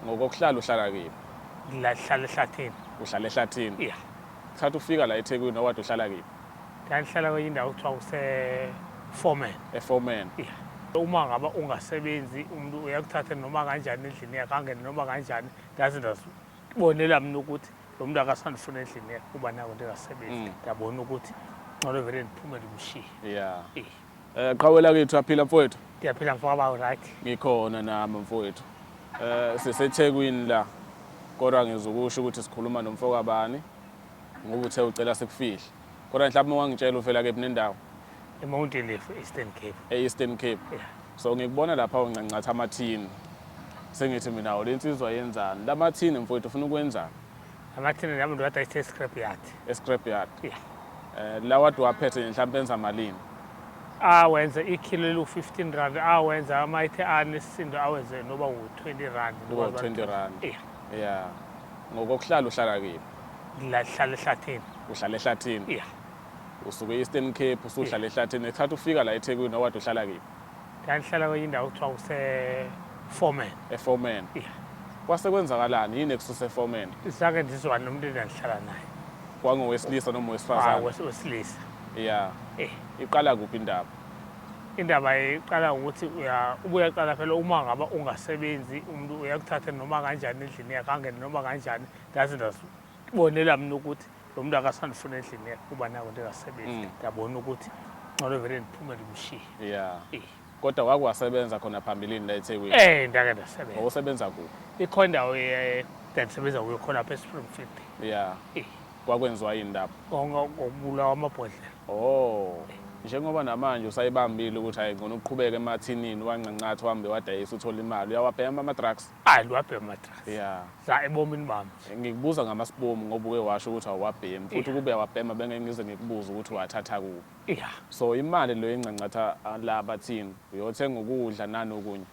Ngokokuhlala uhlala kini. Ngihlala ehlathini. Uhlala ehlathini? Yeah. Thatha ufika la eThekwini owade uhlala kini. Ndangihlala kwenye indawo kuthiwa kuse Foreman. EForeman. Yeah. Uma ngaba ungasebenzi umuntu uyakuthatha noma kanjani endlini yakhe angene noma kanjani ndaze ndazibonela mina ukuthi lo muntu akasandifuna endlini yakhe kuba nako ndingasebenzi. Mm. Ndabona ukuthi ngcono vele ndiphumele umshiye. Yeah. Yeah. Eh qhawe lakithi uyaphila mfowethu? Ngiyaphila mfoka bawo right. Ngikhona nami mfowethu. Eh siseThekwini la. Kodwa ngizwe ukusho ukuthi sikhuluma nomfoka bani ngoba uthe ucela sikufihle. Kodwa mhlawumbe ungangitshela uvela kephi nendawo? eMountain Leaf, Eastern Cape. E-Eastern Cape. Yeah. So ngikubona lapha uncancatha amathini. Sengithi mina awulensizwa yenzani? Lamathini mfowethu ufuna ukwenzani? amathina nami ndo wata ise scrap yard escrap yard Yeah. eh la wadi waphethe mhlawumbe enza malini awenze ikhilo eliwu-15 rand awenze amayithe anesisindo awenze noba wu-20 rand Noba noba u-20 rand. Yeah. yeah ngokokuhlala uhlala kephi La- hlala ehlathini uhlala ehlathini yeah usuke e-eastern cape usuhlala ehlathini ngesikhathi ufika la ethekwini owade uhlala kephi ndandihlala kwenye indawo kuthiwa kuseforeman eforeman yeah. kwase kwenzakalani yini ekususe eforeman zange ndizwane nomntu endandihlala naye kwangowesilisa noma wesifazane ah, wesilisa ya eh. iqala kuphi indaba indaba iqala ukuthi ubuya qala phela uma ngaba ungasebenzi umuntu uyakuthatha noma kanjani endlini yakhe angene noma kanjani ndaze ndazibonela mina ukuthi Lo muntu akasandifuna endlini yakhe kuba nayo into engasebenzi. Mm. Ngiyabona ukuthi ngcono vele ndiphumele umshiye. Yeah. Eh. Kodwa wake wasebenza khona phambilini la eThekwini. Eh ndake ndasebenza. Wawusebenza kuphi? Ikhona indawo eh, ngandisebenza kuyo khona lapha eSpringfield. Yeah. Eh. Kwakwenziwa yini lapho? Konga ngokubulawa amabhodlela. Oh. Njengoba namanje usayibambile ukuthi hayi ngcono uqhubeke emathinini wancancathi uhambe wadayisa uthola imali. Uyawabhema ama-drugs? Ayi liwabhema amadrasi. Yeah. Za ebomini bami. Ngikubuza ngamasibomu ngoba uke washo ukuthi awabhemi futhi ukube awabhema bengeke ngize ngikubuze ukuthi wathatha kuphi. Yeah. So imali leyo ingcancatha ah, la bathini uyothenga ukudla nanokunye.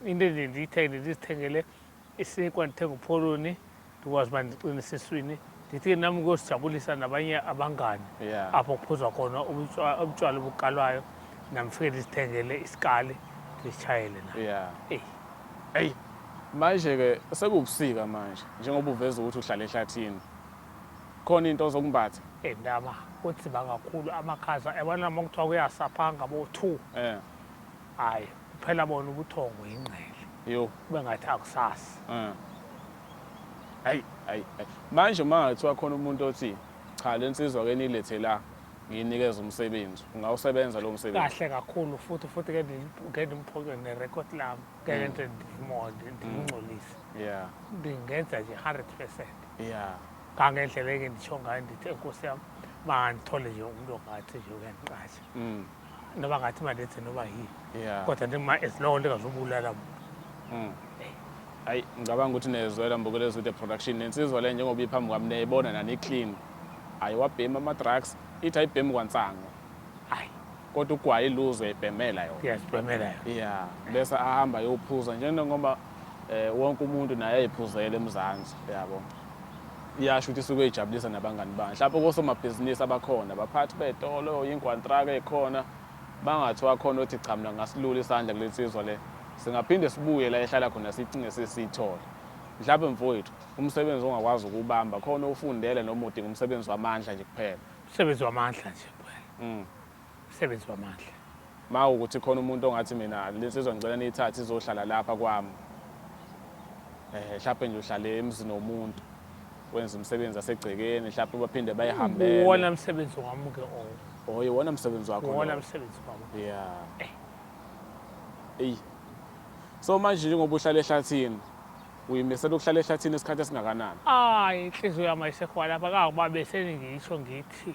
Into nje ndiyithenge ndizithengele isinkwa ndithenge upholoni ndikwazi uba ndiqine esiswini ndithi ke nam kuyosijabulisa nabanye abangani yeah. apho kuphuzwa khona ubutywala obukalwayo namfike ndizithengele isikali ndizitshayele na yeah. eyi eyi manje-ke sekubusika manje njengoba uveza ukuthi uhlala ehlathini khona into ozokumbatha eyi ndaba kunzima kakhulu amakhaza yabona noma kuthiwa kuyasaphanga bo-two um eh. hayi Phela bona ubuthongo yingqele. Yo. Kube ngathi akusasi. Eh. Hayi, hayi. Manje uma ngathiwa khona umuntu othi cha lensizwa ke nilethe la nginikeza umsebenzi ungawusebenza lo msebenzi kahle kakhulu futhi futhi ke ngendimphoke nerecord lam ngeke nje ndimode ndimngcolise yeah ndingenza nje 100 percent yeah kangendlela eke nditsho ngayo ndithi enkosi yam mandithole nje umntu ongathi nje uyandiqasha mm. noba ngathi imali ethe noba yini Yeah. kodwa nje ma as long lingazubulala muntu Mm. Hayi ngicabanga ukuthi nezwela mbukele ezwide production nensizwa le njengoba iphambi kwami niyayibona nani clean. Hayi wabhema ama drugs ithi ayibhemi kwansango. hayi Kodwa ugwayi luzwe ibhemela yona. iyazibhemela yona Yeah, bese ahamba yophuza njengoba eh wonke umuntu naye eyiphuzela eMzansi yabo. iyasho ukuthi isuke ijabulisa nabangani bayo mhlawumbe kosomabhizinisi abakhona baphathi bey'tolo yingwantraka ey'khona bangathiwa khona othi cha mina ngasilula isandla kule nsizwa le singaphinde sibuye la ehlala khona sicinge sesiyithole mhlawumbe mfowethu umsebenzi ongakwazi ukuwubamba khona ufundele noma udinga umsebenzi wamandla nje kuphela umsebenzi wamandla nje kuphela mm. Msebenzi wamandla. Uma ukuthi khona umuntu ongathi mina le nsizwa ngicela niyithathe izohlala lapha kwami eh mhlawumbe nje uhlale emzini womuntu wenza umsebenzi asegcekeni mhlawumbe baphinde bayihambele wona msebenzi wami ke o oh. oh iwona msebenzi wakho wona msebenzi wami yeah eh. eyi so manje njengoba uhlala ehlathini uyimisela ukuhlala ehlathini isikhathi esingakanani hayi inhliziyo yami ayisekhona lapha kangoba beseningisho ngithi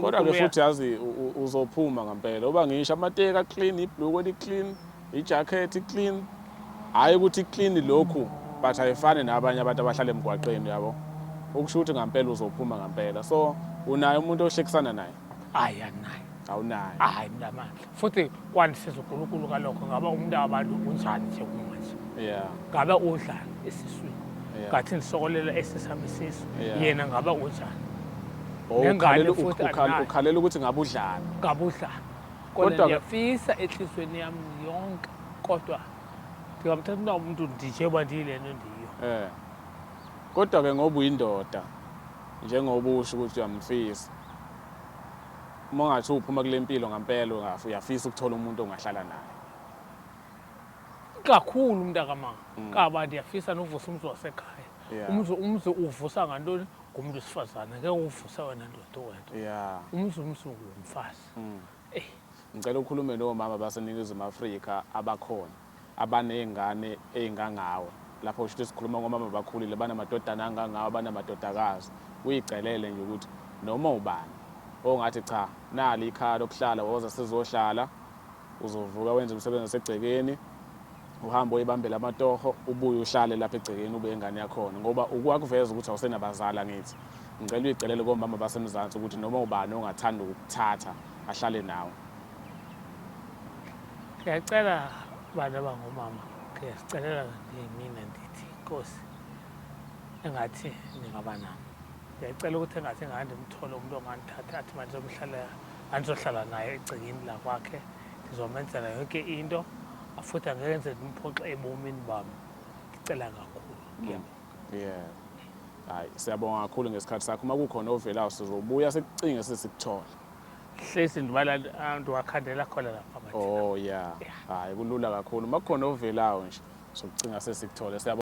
Kodwa ke futhi yazi uzophuma ngampela uba ngisho amateka clean ibhlukwe li clean ijacket clean hayi ukuthi clean lokhu but ayifani nabanye abantu abahlala emgwaqeni yabo ukusho ukuthi ngampela uzophuma ngampela so unaye umuntu ohlekisana naye hayi anginaye awunaye hayi mntamandla futhi kwandisiza uNkulunkulu kalokho ngaba umuntu wabantu unjani nje kumanje yeah ngaba udlani esiswini yeah. ngathi ndisokolela esisami isisu yeah. yena ngaba unjani oh, nengane futhi ukhalela ukuthi ngabe udlani ngabe udlani kodwa ngiyafisa enhlizweni yami yonke kodwa ndingamthatha na umuntu ndije uba ndiyilento ndiyo eh kodwa-ke ngoba uyindoda njengoba usho ukuthi uyamfisa Uma ungathi uphuma kule mpilo ngampela ungafi uyafisa ukuthola umuntu ongahlala naye. Kakhulu mntakama mm. kaba ndiyafisa novusa umzi wasekhaya. Umzi umzi uvusa ngantoni? Ngumntu wesifazane ngeke uvusa wena ndoda wena. Umzi umzi ngumfazi. Mm. Ngicela ukhulume nomama baseNingizimu Afrika abakhona. abanezingane ezingangawe. Lapho kusho ukuthi sikhuluma ngomama abakhulile, abanamadodana angangawe, abanamadodakazi. Kuyicelele nje ukuthi noma ubani ongathi cha nali ikhaya lokuhlala woza sizohlala, uzovuka wenze umsebenzi wasegcekeni, uhambe oyibambela amatoho, ubuye uhlale lapha egcekeni ube ingane yakhona ngoba ukwakuveza ukuthi awusenabazali angithi. Ngicela uyicelele komama baseMzansi ukuthi noma ubani ongathanda ukukuthatha ahlale nawe. Ngiyacela bantu abangomama ngiyasicelela mina ndithi inkosi engathi ningaba nami ngiyacela ukuthi engathi ngande mthole umuntu ongandithatha athi manje omhlalela andizohlala naye egcekeni lakwakhe ngizomenzela yonke into futhi angeke ngize ndimphoxe ebomini bami ngicela kakhulu ngiyabonga mm. yeah hayi siyabonga kakhulu ngesikhathi sakho uma kukhona ovelayo sizobuya sikucinge sesikuthole hlezi ndibala ah, ndiwakhandela khona lapha oh ya hayi kulula kakhulu uma kukhona ovelayo nje sokucinga sesikuthole